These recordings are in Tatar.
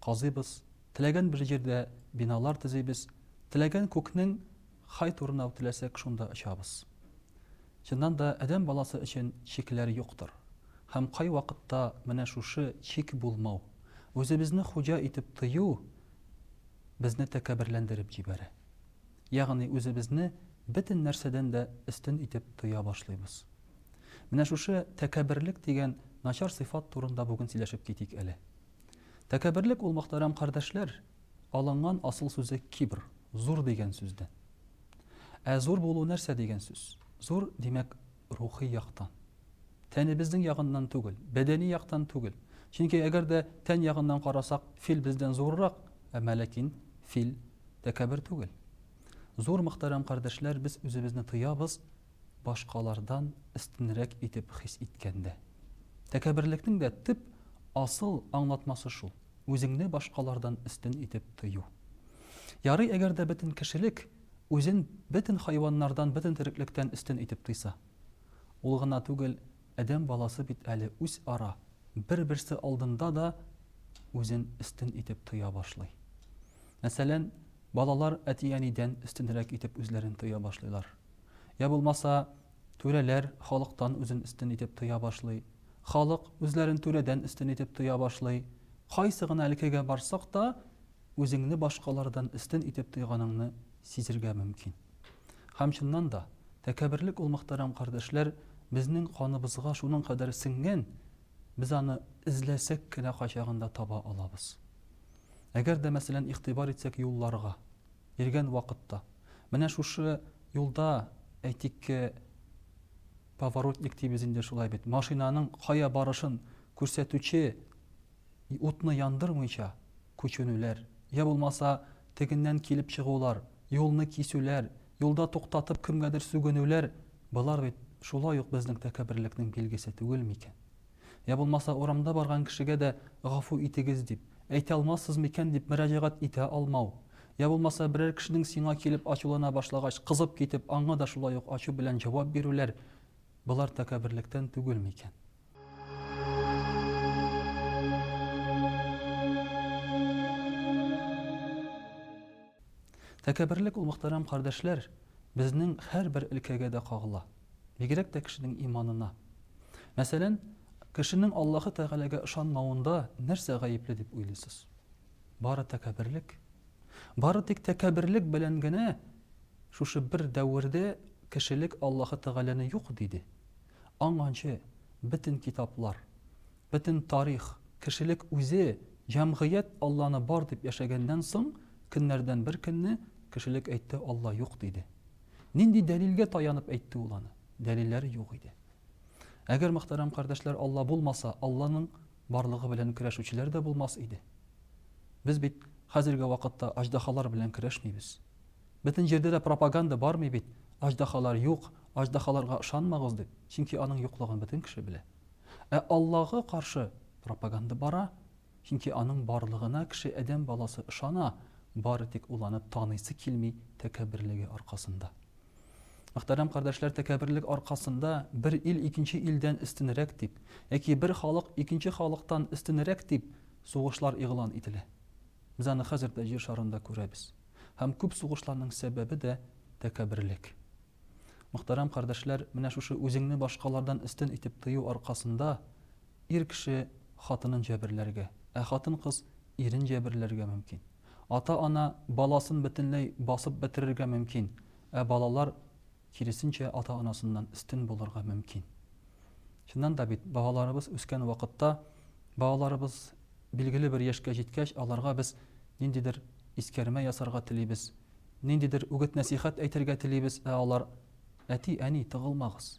казыйбыз, теләгән бер җирдә биналар төзибез, теләгән күкнең кай турына теләсәк шунда очабыз. Чыннан да адәм баласы өчен чикләр юктыр. Һәм кайвакытта менә шушы чик булмау, үзебезне хуҗа итеп тою безне тәкәбберләндереп җибәрә. Ягъни үзебезне бөтен нәрсәдән дә өстен итеп тоя башлыйбыз. Менә шушы тәкәбберлек дигән начар сыйфат турында бүген сөйләшеп китик әле. Тәкәбберлек ул, мөхтәрәм кардәшләр, алынган асыл сүзе кибр, зур дигән сүздән. Ә зур булу нәрсә дигән сүз? Зур, димәк, рухи яктан. Тәнебезнең ягыннан түгел, бәдәни яктан түгел. Чөнки әгәр дә тән ягыннан карасак, фил бездән зуррак, әмма ләкин фил тәкәббер түгел. Зур, мөхтәрәм кардәшләр, без үзебезне тоябыз, башкалардан өстенрәк итеп хис иткәндә. Тәкәберлекнең дә төп, асыл аңлатмасы шул, үзеңне башкалардан өстен итеп тою. Ярый әгәр дә бөтен кешелек үзен бөтен хайваннардан, бөтен тереклектән өстен итеп тойса. Ул гына түгел, адәм баласы бит әле үзара, бер-берсе алдында да үзен өстен итеп тоя башлый. Мәсәлән, балалар әти-әнидән өстенрәк итеп үзләрен тоя башлыйлар. Йә булмаса, түрәләр халыктан үзен өстен итеп тоя башлый, халык үзләрен түрәдән өстен итеп тоя башлый. Кайсы гына өлкәгә барсак та, үзеңне башкалардан өстен итеп тойганыңны сизергә мөмкин. Һәм, чыннан да, тәкәбберлек ул, мөхтәрәм кардәшләр, безнең каныбызга шуның кадәр сеңгән, без аны эзләсәк кенә кайчагында таба алабыз. Әгәр дә, мәсәлән, игътибар итсәк юлларга. Биргән вакытта. Менә шушы юлда, әйтик, поворотник дибез инде шулай бит, машинаның кая барышын күрсәтүче утны яндырмыйча күченүләр, йә булмаса тегеннән килеп чыгулар, юлны кисүләр, юлда туктатып кемгәдер сүгенүләр, болар бит шулай ук безнең тәкәберлекнең билгесе түгелме икән? Йә булмаса урамда барган кешегә дә гафу итегез дип, әйтә алмассыз микән дип мөрәҗәгать итә алмау. Йә булмаса берәр кешенең сиңа килеп ачулана башлагач кызып китеп аңа да шулай ук ачу белән җавап бирүләр, болар тәкәбберлектән түгел микән? Тәкәбберлек ул, мөхтәрәм кардәшләр, безнең һәрбер өлкәгә дә кагыла. Бигрәк тә кешенең иманына. Мәсәлән, кешенең Аллаһы Тәгаләгә ышанмавында нәрсә гаепле дип уйлыйсыз? Бары тәкәбберлек. Бары тик тәкәбберлек белән генә шушы бер дәвердә кешелек Аллаһы Тәгаләне юк диде. Аңанчы бөтен китаплар, бөтен тарих, кешелек үзе, җәмгыять Алланы бар дип яшәгәннән соң, көннәрдән бер көнне кешелек әйтте, Алла юк диде. Нинди дәлилгә таянып әйтте ул аны? Дәлилләре юк иде. Әгәр, мөхтәрәм кардәшләр, Алла булмаса, Алланың барлыгы белән көрәшүчеләр дә булмас иде. Без бит хәзерге вакытта аҗдахалар белән көрәшмибез. Бөтен җирдә дә пропаганда бармый бит, аҗдахалар юк, аҗдахаларга ышанмагыз дип, чөнки аның юклыгын бөтен кеше белә. Ә Аллага каршы пропаганда бара. Чөнки аның барлыгына кеше адәм баласы ышана, бары тик ул аны таныйсы килми тәкәбберлеге аркасында. Мөхтәрәм кардәшләр, тәкәбберлек аркасында бер ил икенче илдән өстенрәк дип, яки бер халык икенче халыктан өстенрәк дип сугышлар игълан ителә. Без аны хәзер дә җир шарында күрәбез. Һәм күп сугышларның сәбәбе дә тәкәбберлек. Мөхтәрәм кардәшләр, менә шушы үзеңне башкалардан өстен итеп тою аркасында Ир кеше хатынын җәберләргә, ә хатын-кыз ирен җәберләргә мөмкин. Ата-ана баласын бөтенләй басып бетерергә мөмкин, ә балалар, киресенчә, ата-анасыннан өстен булырга мөмкин. Чыннан да бит, балаларыбыз үскән вакытта, балаларыбыз билгеле бер яшькә җиткәч, аларга без ниндидер искәрмә ясарга телибез, ниндидер үгет-нәсыйхәт әйтергә телибез, ә алар, Әти, әни, тыгылмагыз!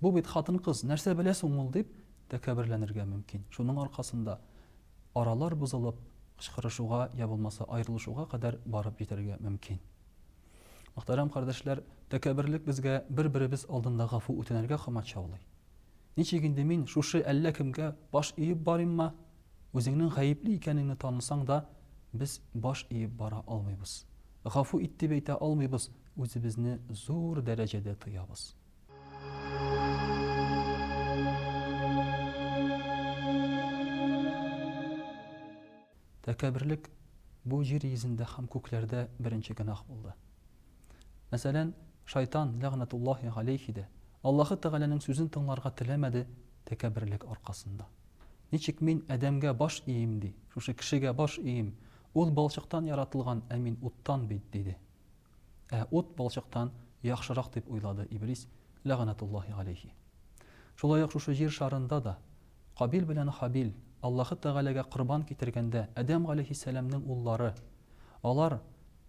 Бу бит хатын-кыз, нәрсә белә соң ул, дип тәкәбберләнергә мөмкин. Шуның аркасында аралар бозылып, кычкырышуга я булмаса аерылышуга кадәр барып җитәргә мөмкин. Мөхтәрәм кардәшләр, тәкәбберлек безгә бер-беребез алдында гафу үтенергә комачаулый. Ничек инде мин шушы әллә кемгә баш иеп барыйммы? Үзеңнең гаепле икәнеңне танысаң да, без баш иеп бара алмыйбыз. Гафу ит дип әйтә алмыйбыз, үзебезне зур дәрәҗәдә тоябыз. Тәкәберлек бу җир йөзендә һәм күкләрдә беренче гөнаһ булды. Мәсәлән, шайтан ләгънәтуллаһи галәйһи дә Аллаһы Тәгаләнең сүзен тыңларга теләмәде тәкәберлек аркасында. Ничек мин адәмгә баш иим ди, шушы кешегә баш иим, ул балчыктан яратылган, ә мин уттан бит, диде. Ә ут балчыктан яхшырак дип уйлады Иблис, ләгънәтуллаһи галәйһи. Шулай ук шушы җир шарында да Кабил белән Хабил Аллаһы Тәгаләгә корбан китергәндә Адәм галәйһиссәламнең уллары, алар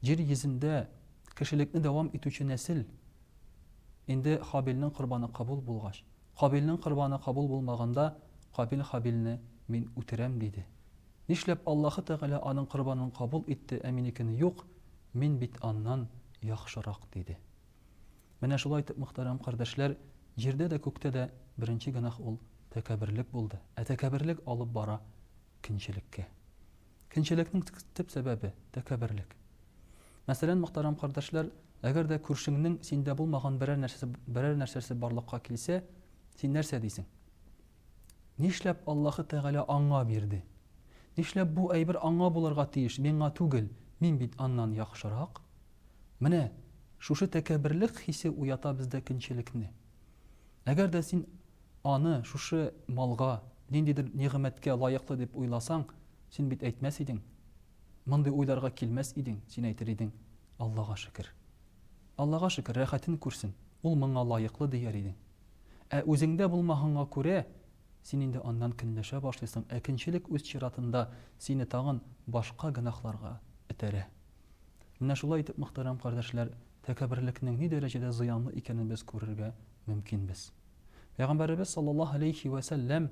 җир йөзендә кешелекне дәвам итүче нәсел, инде Хабилнең корбаны кабул булгач, Кабилнең корбаны кабул булмаганда Кабил Хабилне мин үтерәм диде. Нишләп Аллаһы Тәгалә аның корбанын кабул итте, ә минекен юк, мин бит аннан яхшырак, диде. Менә шулай итеп, мөхтәрәм кардәшләр, җирдә дә, күктә дә беренче гөнаһ ул тәкәбберлек булды, ә тәкәбберлек алып бара көнчелеккә. Көнчелекнең төп сәбәбе, тәкәбберлек. Мәсәлән, мөхтәрәм кардәшләр, әгәр дә күршеңнең синдә булмаган берәр нәрсәсе, берәр нәрсәсе барлыкка килсә, син нәрсә дисең? Нишләп Аллаһы Тәгалә аңа бирде? Нишләп бу әйбер аңа булырга тиеш, миңа түгел, мин бит аннан яхшырак? Менә шушы тәкәбберлек хисе уята бездә көнчелекне. Әгәр дә син аны шушы малга, ниндидер нигъмәткә лаеклы дип уйласаң, син бит әйтмәс идең, мондый уйларга килмәс идең, син әйтер идең, Аллага шөкер. Аллага шөкер, рәхәтен күрсен, ул моңа лаеклы, дияр идең. Ә үзеңдә булмаганга күрә, син инде аннан көнләшә башлыйсың, ә көнчелек үз чиратында сине тагын башка гөнаһларга этәрә. Менә шулай итеп, мөхтәрәм кардәшләр, тәкәбберлекнең ни дәрәҗәдә зыянлы икәнен без күрергә мөмкинбез. Пәйгамбәребез саллаллаһу галәйһи вә сәлләм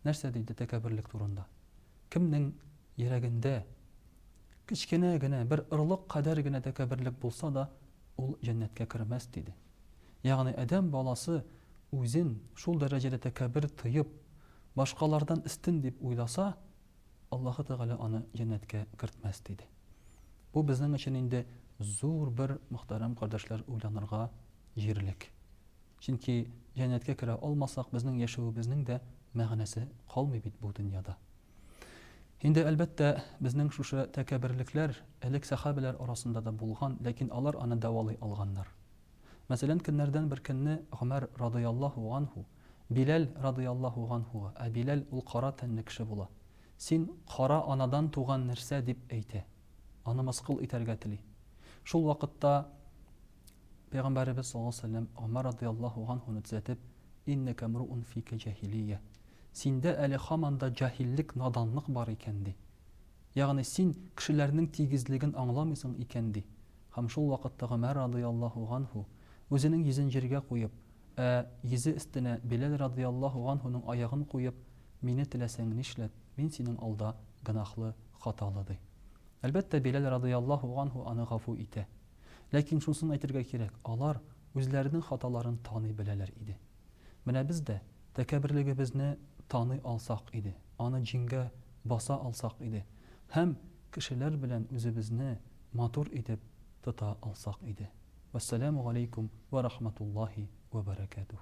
нәрсә диде тәкәбберлек турында? Кемнең йөрәгендә кечкенә генә, бер орлык кадәр генә тәкәбберлек булса да, ул җәннәткә кермәс, диде. Ягъни адәм баласы үзен шул дәрәҗәдә тәкәбер тоеп, башкалардан өстен дип уйласа, Аллаһы Тәгалә аны җәннәткә кертмәс, диде. Бу безнең өчен инде зур бер, мөхтәрәм кардәшләр, уйланырга җирлек. Чөнки җәннәткә керә алмасак, безнең яшәвебезнең дә мәгънәсе калмый бит бу дөньяда. Инде, әлбәттә, безнең шушы тәкәберлекләр элек сәхабәләр арасында да булган, ләкин алар аны дәвалый алганнар. Мәсәлән, көннәрдән бер көнне Гомәр радыйаллаһу ганһу Биләл радыйаллаһу ганһуга, ә Биләл ул кара тәнле кеше була, Син кара анадан туган нәрсә, дип әйтә. аны мыскыл итәргә тели. Шул вакытта Пәйгамбәребез саллаллаһу галәйһи ва сәлләм Гомәр радыйяллаһу ганһуны төзәтеп, Иннәкә мруун фикә җәһилия, синдә әле һаман да җаһиллек, наданлык бар икән, ди. Ягъни син кешеләрнең тигезлеген аңламыйсың икән, ди. Һәм шул вакытта Гомәр радыйяллаһу ганһу, үзенең йөзен җиргә куеп, ә йөзе өстенә Биләл радыйяллаһу ганһуның аягын куеп, Мине теләсәң нишләт, мин синең алда гөнаһлы, Хаталы, ди. Әлбәттә, Биләл радыйяллаһу анһу аны гафу итә. Ләкин шунысын әйтергә кирәк, алар үзләренең хаталарын таный беләләр иде. Менә без дә тәкәбберлегебезне таный алсак иде, аны җиңгә баса алсак иде һәм кешеләр белән үзебезне матур итеп тота алсак иде. Вәссәламү галәйкүм вә рахматуллаһи вә бәрәкәтүһ.